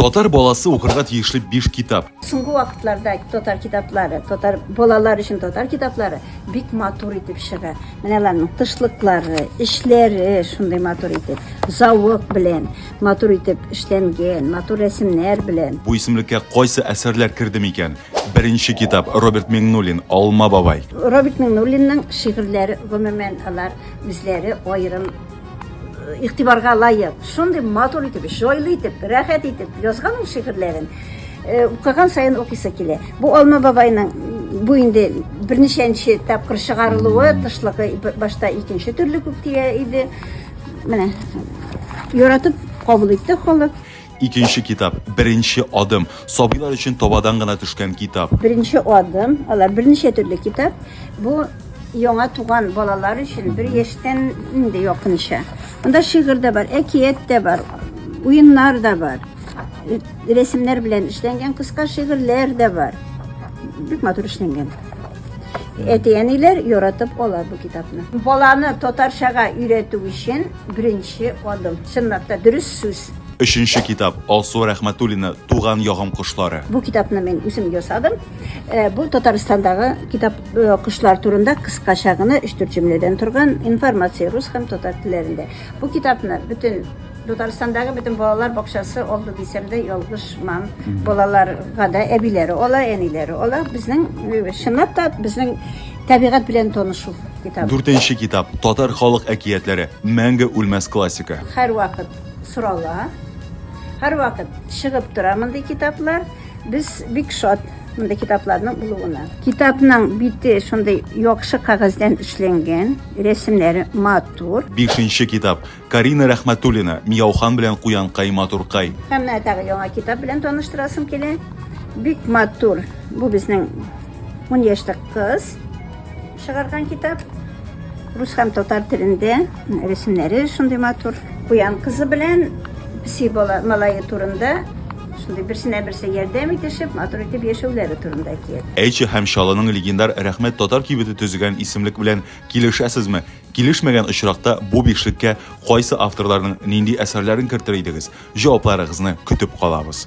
Татар баласы укырга тиешле биш китап. Соңгы вакытларда татар китаплары, татар балалар өчен татар китаплары бик матур итеп чыга. Менә аларның тышлыклары, эшләре шундый матур итеп, завод белән матур итеп эшләнгән, матур рәсемнәр белән. Бу исемлеккә кайсы әсәрләр керде микән? Беренче китап Роберт Миңнуллин, Алма бабай. Роберт Миңнуллинның шигырьләре, гомумән, алар үзләре аерым игътибарга лаек, шундый матур итеп, җайлы итеп, рәхәт итеп язган ул шигырьләрен. Э, укыган сайын укыйсы килә. Бу Алма бабайның бу инде берничәнче тапкыр чыгарылуы, тышлыгы башта икенче төрле күк тия иде. Менә яратып кабул итте халык. Икенче китап, беренче адым. Сабыйлар өчен табадан гына төшкән китап. Беренче адым, алар берничә төрле китап. Бу яңа туган балалар өчен бер яшьтән инде якынча. Монда шигырь дә бар, әкият тә бар, уеннар да бар. Рәсемнәр белән эшләнгән кыска шигырьләр дә бар. Бик матур эшләнгән. Әти-әниләр яратып ала бу китапны. Баланы татарчага өйрәтү өчен беренче адым. Чынлап та дөрес сүз. Өченче китап Алсу Рәхмәтуллина Туган ягым кошлары. Бу китапны мин үзем ясадым. Э, бу Татарстандагы китап э, кошлар турында кыскача гына 3-4 җөмләдән торган информация рус һәм татар телләрендә. Бу китапны бөтен Татарстандагы бөтен балалар бакчасы алды дисәм дә ялгышмам. Балаларга да әбиләре ала, әниләре ала. Безнең э, чынлап та безнең табигать белән танышу. китап. Дүртенче китап, татар халык әкиятләре, мәңге үлмәс классика. Һәрвакыт сорала, һәрвакыт чыгып тора мондый китаплар. Без бик шат мондый китапларның булуына. Китапның бите шундый яхшы кәгазьдән эшләнгән, рәсемнәре матур. Бишенче китап. Карина Рәхмәтуллина, Мияухан белән Куянкай, Матуркай. Һәм менә тагы яңа китап белән таныштырасым килә. Бик матур. Бу безнең 10 яшьлек кыз чыгарган китап. Рус һәм татар телендә рәсемнәре шундый матур. Куян кызы белән песи бала малае турында шундый берсенә берсе ярдәм итешеп, матур итеп яшәүләре турында әкият. Әйче һәм Чаллының легендар Рәхмәт татар кибете төзегән исемлек белән килешәсезме? Килешмәгән очракта бу бишлеккә кайсы авторларның нинди әсәрләрен кертер идегез? Җавапларыгызны көтеп калабыз.